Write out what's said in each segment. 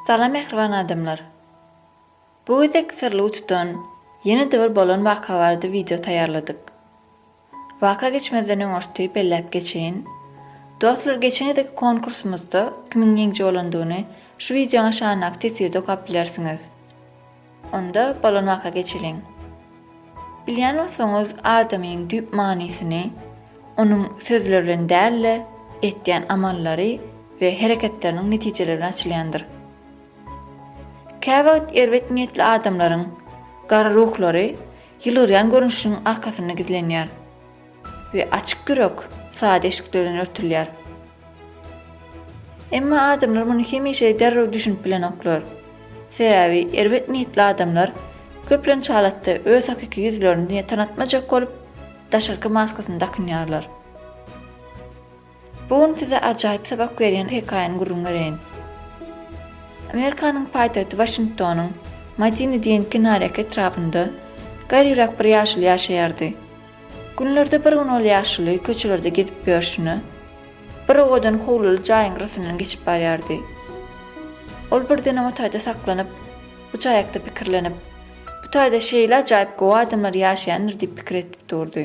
Salam mähriban adamlar. Bu gezek syrly utudan ýene-de bir bolan waka barada wideo taýýarladyk. Waka geçmezden öň orty belläp geçeýin. Dostlar geçen gezeki konkursymyzda kimiň ýeňji bolandygyny şu wideoň aşagyndaky teswirde okap bilersiňiz. Onda bolonaka geçeliň. Bilýän bolsaňyz adamyň düýp manysyny onuň sözleri bilen däl-de etýän amallary we hereketleriniň netijeleri bilen açylýandyr. Käwagt erbet niýetli adamlaryň gara ruhlary ýylgyrýan görnüşiniň arkasynda gizlenýär. we açyk ýürek sada eşikler bilen örtülýär. Emma adamlar muny hemişe derrew düşünip bilenoklar. Sebäbi erbet niýetli adamlar köplenç halatda öz hakyky ýüzlerini diňe tanatmajak bolup, daşarky maskasyny dakynýarlar. Bu gün size ajaýyp sapak berýän hekaýany gürrüň bereýin. Amerikanyň paýtagty Waşingtonyň Madini diýen kenarýaka etrabynda garryrak bir ýaşuly ýaşaýardy. Günlerde bir gün ol ýaşuly köçelerde gezip ýörşüne, bir owadan howluly jaýyň gyrasyndan geçip barýardy. Ol birdenem o taýda saklanyp, bu jaýakda pikirlenip, Bu taýda şeýle ajaýyp gowy adamlar ýaşaýandyr diýip pikir edip durdy.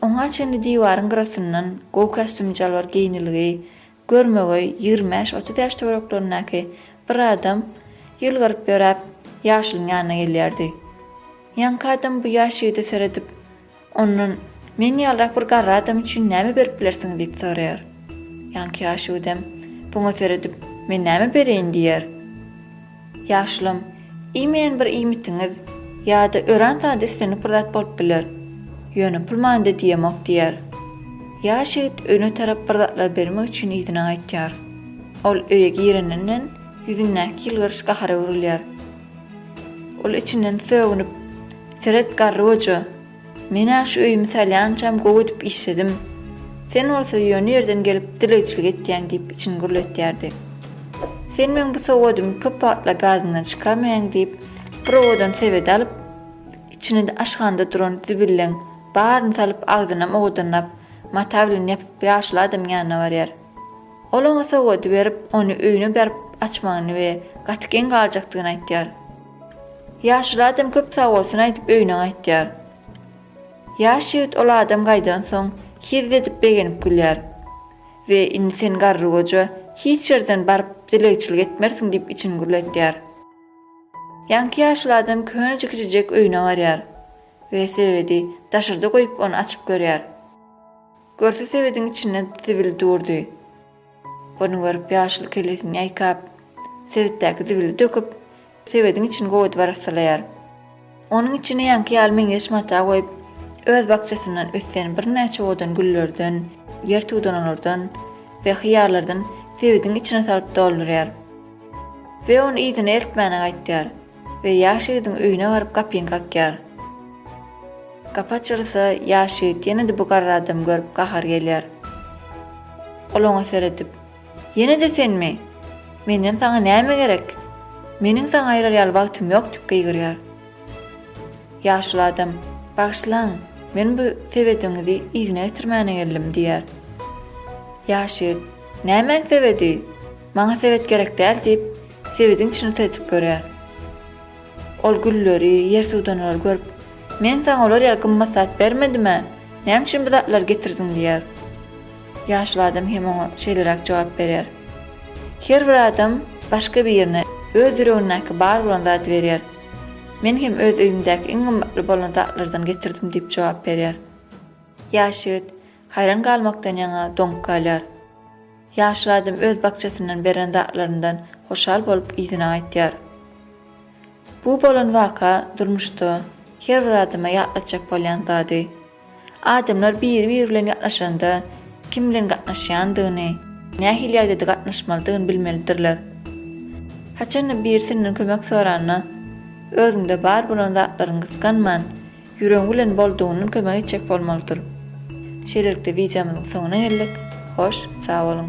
Oňa çenli diwaryň gyrasyndan gowy kostümjalbar geýnilgi, görmegeý ýigrimi bäş-otuz ýaş töwereklerindäki bir adam ýylgyryp ýöräp, ýaşulyň ýanyna gelýärdi. Ýaňky adam bu ýaş ýigide seredip, ondan, Meň ýalyrak bir garry adam üçin näme berip bilersiňiz? diýip soraýar. Ýaňky ýaşuýdem, buňa seredip, Men näme bereýin? diýýär. Ýaşlym, iýmeýän bir iýmitiňiz ýa-da örän sada islendik bir zat bolup biler. Ýöne pul manyda diýemok, diýýär. Ýaş ýigit öýüne tarap bir zatlar bermek üçin yzyna gaýtýar. Ol öýe gireninden ýüzündäki ýylgyryş gahara öwrülýär. Ol içinden sögünip, Seret, garry goja! Men-ä şu öýümi salýançam gowy edip işledim. Sen bolsa ýöne ýerden gelip dilegçilik etýäň diýip içini gürletýärdi. Sen meň bu sowgadymy köp wagtlap ýadyňdan çykarmaýaň diýip, bir owadan sebet alyp, içine aşhanda duran zibilleň baryny salyp agzynam owadanlap mata bilen ýapyp ýaşuly adamyň ýanyna barýar. Ol oňa sowgady berip, ony öýüne berip açmagyny we gaty geň galjakdygyny aýtýar. Ýaşuly adam köp sagbolsun aýdyp öýüne gaýtýar. Ýaş ýigit ol adam gaýdansoň, hezil edip begenip gülýär we indi sen garrygoja hiç ýerden baryp dilegçilik etmersiň diýip içini gürletýär. Ýaňky ýaşuly adam könejik kiçijek öýüne barýar we söwedi daşarda goýup ony açyp görýär. Görse sebediň içinde zibil durdy. Ony görüp ýaşuly kellesini ýaýkap, sebetdäki zibili döküp, sebediň içini gowy edip arassalaýar. Onuň içine ýaňky ýaly meňzeş mata goýup, öz bakjasyndan ösýän birnäçe owadan güllerden, ýer tudanalardan we hyýarlardan sebediň içine salyp doldurýar. We ony yzyna eltmäne gaýtýar. We ýaş ýigidiň öýüne baryp gapyny kakýar. Gapy açylsa, ýaş ýigit ýene-de bu garry adamy görüp gahary gelýär. Ol oňa seredip, Ýene-de senmi? Menden saňa näme gerek? Meniň saňa aýrar ýaly wagtym ýok diýip gygyrýar. Ýaşuly adam, Bagyşlaň, men bu sebediňizi yzyna getirmäne geldim diýýär. Ýaş ýigit, Nämäň sebedi? Maňa sebet gerek däl, diýip, sebediň içini syrdýp görýär. Ol gülleri, ýertudanlary görüp, Men saňa olar ýaly gymmat zat bermedim-ä, näme üçin bu zatlary getirdiň? diýýär. Ýaşuly adam hem oňa şeýleräk jogap berýär, Her bir adam başga birine öz ýüregindäki bar bolan zady berýär. Men hem öz öýümdäki iň gymmatly bolan zatlardan getirdim diýip jogap berýär. Ýaş ýigit haýran galmakdan ýaňa doňup galýar. Ýaşyl adam öz bakjasyndan beren zatlaryndan hoşal bolup yzyna gaýtýar. Bu bolan waka durmuşda her bir adama ýatlatjak bolýan zady. Adamlar biri-biri bilen ýatlaşanda kim bilen gatnaşýandygyny, nähili ýagdaýda gatnaşmalydygyny bilmelidirler. Haçanda birisinden kömek soranda, özüňde bar bolan zatlaryňy gysganman, Ýüregiň bilen boldugyndan kömek etjek bolmalydyr. Şeýlelikde wideomyzyň soňuna geldik. Hoş, sag boluň!